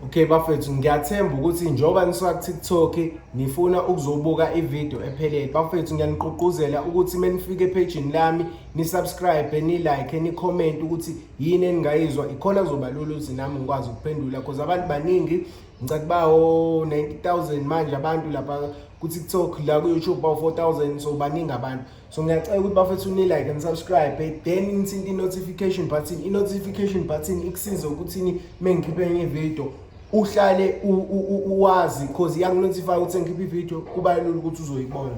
Okay bafethu ngiyathemba ukuthi njengoba nisuka ku-TikTok nifuna ukuzobuka ivideo ephelele. Bafethu ngiyaniqugquzela ukuthi menifike ephejini lami nisubscribe, nilike, nicomment ukuthi yini eningayizwa ikhona kuzoba lula ukuthi nami ngikwazi ukuphendula because abantu baningi ngicela kuba o 90000 manje abantu lapha ku-TikTok la ku-YouTube bawu 4000 so baningi abantu. so ngiyacela ukuthi bafethu nilike and subscribe then nithinte i-notification button i-notification button ikusiza ukuthini uma ngikhiphe enye video uhlale uwazi because iyakunotify ukuthi sengikhiphe ivideo kuba lula ukuthi uzoyibona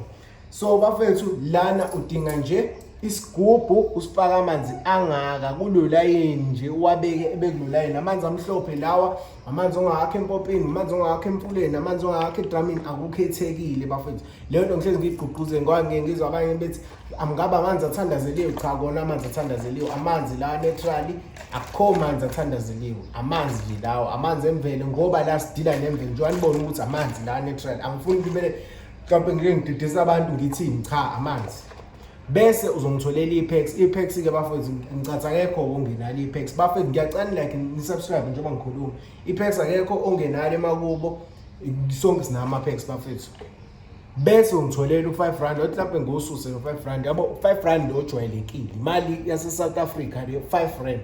so bafethu lana udinga nje isigubhu usifaka amanzi angaka kulolayini nje uwabeke ebekulolayini amanzi amhlophe lawa amanzi ongawakho empopini amanzi ongawakho emfuleni amanzi ongawakho edramini akukhethekile bafethu leyo nto ngihlezi ngiyigqugquze ngoba ngike ngizwa abanye bethi amngabe amanzi athandazeliwe cha kona amanzi athandazeliwe amanzi lawa naturally akukho manzi athandazeliwe amanzi nje lawo amanzi emvelo ngoba la sidila nemvelo njengoba nibona ukuthi amanzi lawa naturally angifuni kumele mhlawumpe ngike ngididisa abantu ngithini cha amanzi bese uzongitholela i-packs i-packs ke bafethu ngicatha akekho ongenalo i-packs bafethu ngiyacani like nisubscribe njengoba ngikhuluma i-packs akekho ongenalo emakubo sonke sinama packs bafethu bese ungitholela u5 rand othi lapho ngosuse u5 rand yabo 5 rand ojwayelekile imali yase South Africa le 5 rand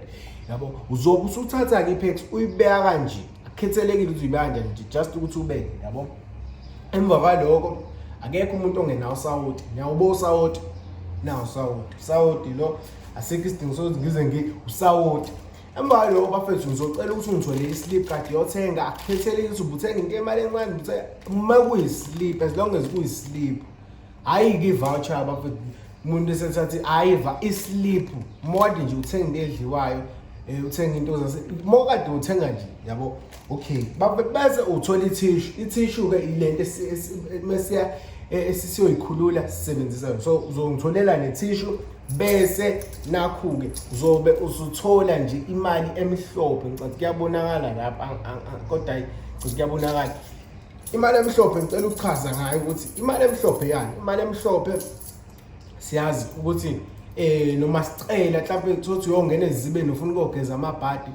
yabo uzobe usuthatha ke ipex uyibeka kanje akukhethelekile ukuthi uyibanja nje just ukuthi ubeke yabo emva kwaloko akekho umuntu ongenawo usawoti niyawubo usawoti nawo usawoti usawoti lo asikho isidingo sokuthi ngize ngi usawoti emva kwaloko bafethu ngizocela ukuthi ungitholele islip kade yothenga akukhethelekile ukuthi ubuthenga into emali encane uma kuyislip as long as kuyislip hayi ke voucher abafethu umuntu esethathi hayi islip mode nje uthenga edliwayo eh, uthenga into zase mokade uthenga nje yabo okay bese uthola ithishu ithishu ke ilento mesiya eh, esisiyoyikhulula sisebenzisa yona so uzongitholela nethishu bese nakhu-ke uzobe usuthola nje imali emhlophe ngicathi kuyabonakala lapha kodwa ngicathi kuyabonakala imali emhlophe ngicela ukuchaza ngayo ukuthi imali emhlophe yani imali emhlophe siyazi ukuthi eh noma sicela mhlawumbe kuthothi uyongena ezibeni ufuna ukogeza amabhadi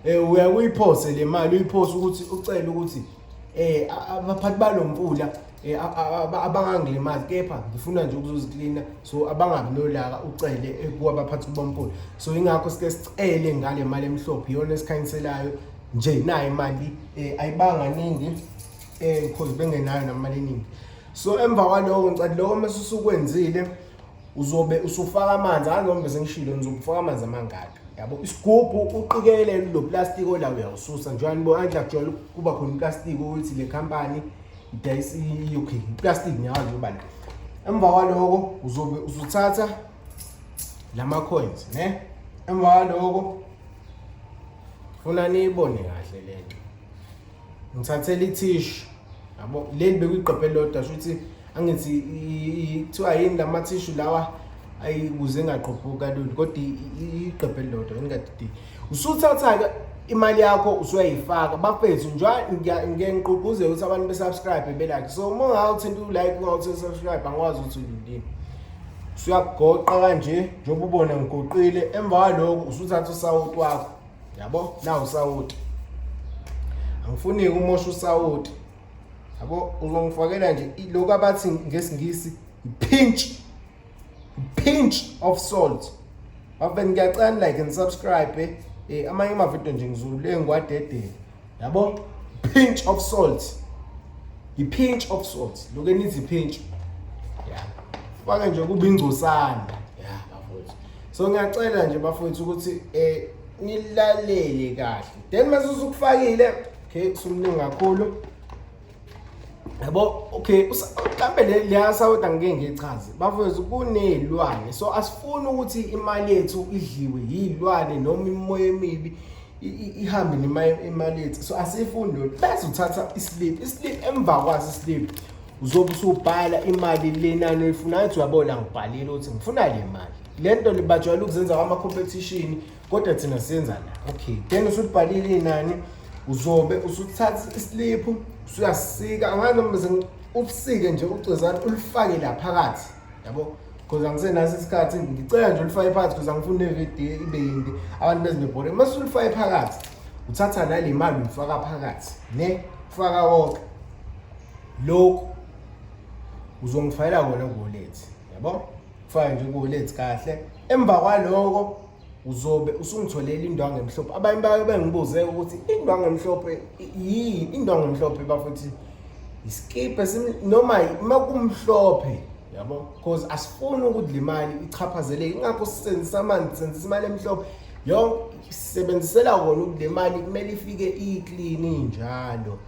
eh uya kuyiphose le mali uyiphose ukuthi ucela ukuthi eh abaphathi balomfula eh abangangilimazi kepha ngifuna nje ukuzoziklina so abangabi nolaka ucele eh, kuwabaphathi bomfula so ingakho sike sicele ngale mali emhlophe iyona esikhanyiselayo nje nayo imali eh ayibanga ningi eh because bengenayo namali eningi so emva kwaloko ngicela lokho mase usukwenzile uzobe usufaka amanzi angizobe sengishilo ngizokufaka amanzi amangaka yabo isigubhu uqikelele lo plastic ola uyawususa njani bo andla kujwayele kuba khona plastic ukuthi le company idayisa i-UK plastic nyawo nje ubani emva kwaloko uzobe usuthatha lama coins ne emva kwaloko funa niyibone kahle le nto ngithathela ithishu yabo leli bekuyigqebhe lodwa shuthi angithi kuthiwa yini la mathishu lawa ayikuze ngaqophuki kalula kodwa igqebhe lodwa ingadidi usuthatha-ke imali yakho usuyayifaka bafethu njengoba ngike ngiqugquze ukuthi abantu besubscribe belike so uma ungawuthinta ulike ungawuthinta subscribe angikwazi ukuthi ulindini siyakugoqa kanje njengoba ubona ngigoqile emva kwaloko usuthatha usawoti wakho yabo na usawoti angifuni-ke umosha usawoti yabo uzongifakela nje lokhu abathi ngesingisi pinch pinch of salt bafeni ngiyacani like and subscribe eh, eh amanye amavidiyo nje ngizulule ngiwadedele yabo pinch of salt i-pinch of salt lokhu enithi pinch ya fake nje kube ingcosana ya bafowethu so ngiyacela nje bafowethu ukuthi eh nilalele kahle then mase usukufakile okay sumningi kakhulu yabo okay mhlambe leya sawota ngike ngichaze bafowethu kunezilwane so asifuni ukuthi imali yethu idliwe yizilwane noma imoya emibi ihambe nemali yethu so asifuni lokho bese uthatha islip islip emva kwaso islip uzobe usubhala imali lenani oyifunayo uthi uyabona ngibhalile ukuthi ngifuna le mali le nto libajwayele ukuzenza kwama-competition kodwa thina siyenzani okay then usubhalile inani uzobe usuthatha isiliphu usuyasika angazi noma usike nje ucezana ulifake la phakathi yabo because angisenaso isikhathi ngicela nje ulifake phakathi because angifuni nevidiyo ibe yinde abantu bezinebhore uma sulifake phakathi uthatha nale mali uyifaka phakathi ne ufaka wonke lokhu uzongifayela kona kuwallet yabo Fine nje kuholethe kahle. Emva kwaloko uzobe usungitholela indwangu emhlophe. Abanye bayo bengibuze ukuthi indwangu emhlophe yini? Indwangu emhlophe bafuthi iskipe noma uma kumhlophe yabo because asifuni ukudla imali ichaphazele ingakho sisenzisa amanzi senzisa imali emhlophe yonke sisebenzisela kona ukudla imali kumele ifike iclean njalo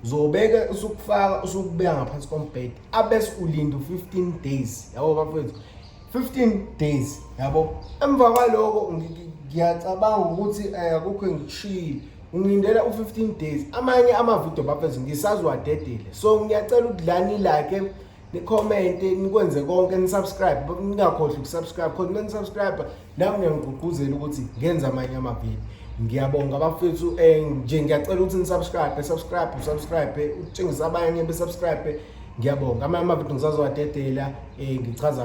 uzobeka usukufaka usukubeka ngaphansi kombhede abes ulinda u15 days yabo bafethu 15 days yabo emva kwaloko ngiyacabanga ukuthi eh, akukho engikushiyile ngilindela u15 days amanye amavidiyo bafethu ngisaziwadedile so ngiyacela ukuthi la nilake nicommente nikwenze konke nisubscribe ningakhohlwa ukusubscribe khona uma nisubscribe nami ngiyangigqugquzela ukuthi ngenze amanye amabili ngiyabonga abafethu um eh, nje ngiyacela ukuthi nisubscribe subscribe usubscribe utshengisa abanye besubscribe ngiyabonga amanye amavidiyo ngisazowadedela um eh, ngichaza